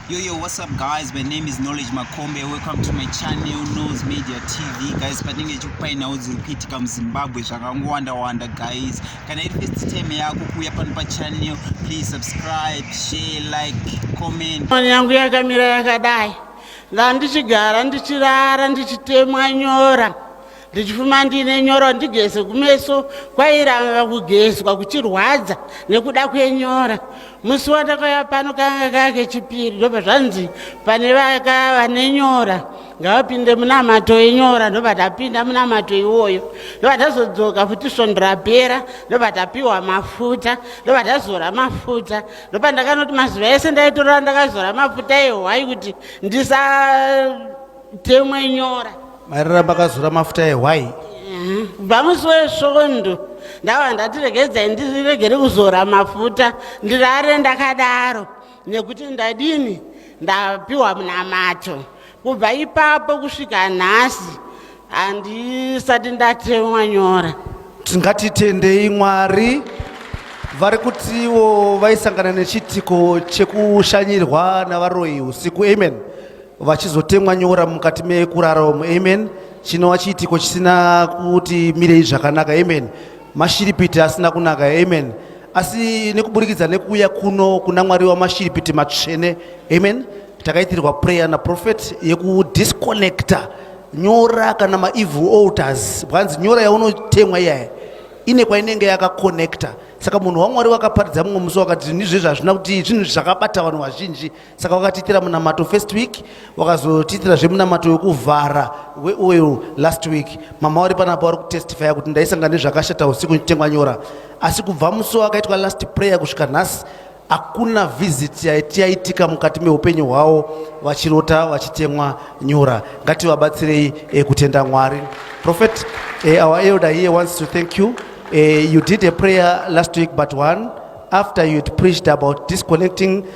Yo, yo, what's up guys? My name is Knowledge Makombe. Welcome to my channel, Nose Media TV. Guys, patinenge chikupai nhau dziri kuitika muZimbabwe zvakangowanda-wanda guys. Kana iri first time yako kuuya pano pachannel, please subscribe, share, like, comment. Mwana yangu yakamira yakadai. Ndandichigara ndichirara ndichitemwa nyora. ndichifuma ndiine nyora ndigeze kumeso kwairamba kugezwa kuchirwadza nekuda kwenyora musi wandakauya pano kanga kake chipiri ndobva zvanzi pane vaka vane nyora ngavapinde munamato enyora ndobva tapinda munamato iwoyo ndobva tazodzoka futi svondo rapera ndobva tapiwa mafuta ndobva tazora mafuta ndobva ndakanoti mazuva ese ndaitorora ndakazora mafuta ehwai kuti ndisa Mtemo inyora. Mairara pakazura mafuta ehwai. Bamusi wesvondo ndava ndati regedzai ndiregere kuzora mafuta ndirare ndakadaro nekuti ndadini ndapiwa munamato kubva ipapo kusvika nhasi handisati ndatemwa nyora tingatitendei mwari vari kutiwo vaisangana nechitiko chekushanyirwa navaroyi usiku amen vachizotemwa nyora mukati mekurara umu amen chinova chiitiko chisina kuti mirei zvakanaka amen mashiripiti asina kunaka amen asi nekuburikidza nekuuya kuno kuna mwari wamashiripiti matsvene amen takaitirwa prayer naprofet yekudisconnecta nyora kana maevil alters bwanzi nyora yaunotemwa iyaya ine kwainenge yakaconnecta saka munhu wamwari wakaparidza mumwe musi wakati nizvezvi hazvina kuti zvinhu zvakabata vanhu vazhinji saka wakatiitira munamato first week wakazotiitira zvemunamato wekuvhara weoil last week mama wari panapa wari kutestifya kuti ndaisanga nezvakashata usiku ndichitengwa nyora asi kubva musi wakaitwa last prayer kusvika nhasi hakuna visit yaitika mukati meupenyu hwavo vachirota vachitemwa nyora ngativabatsirei eh, kutenda mwari prophet eh, our elder here wants to thank you eh, you did a prayer last week but one after you had preached about disconnecting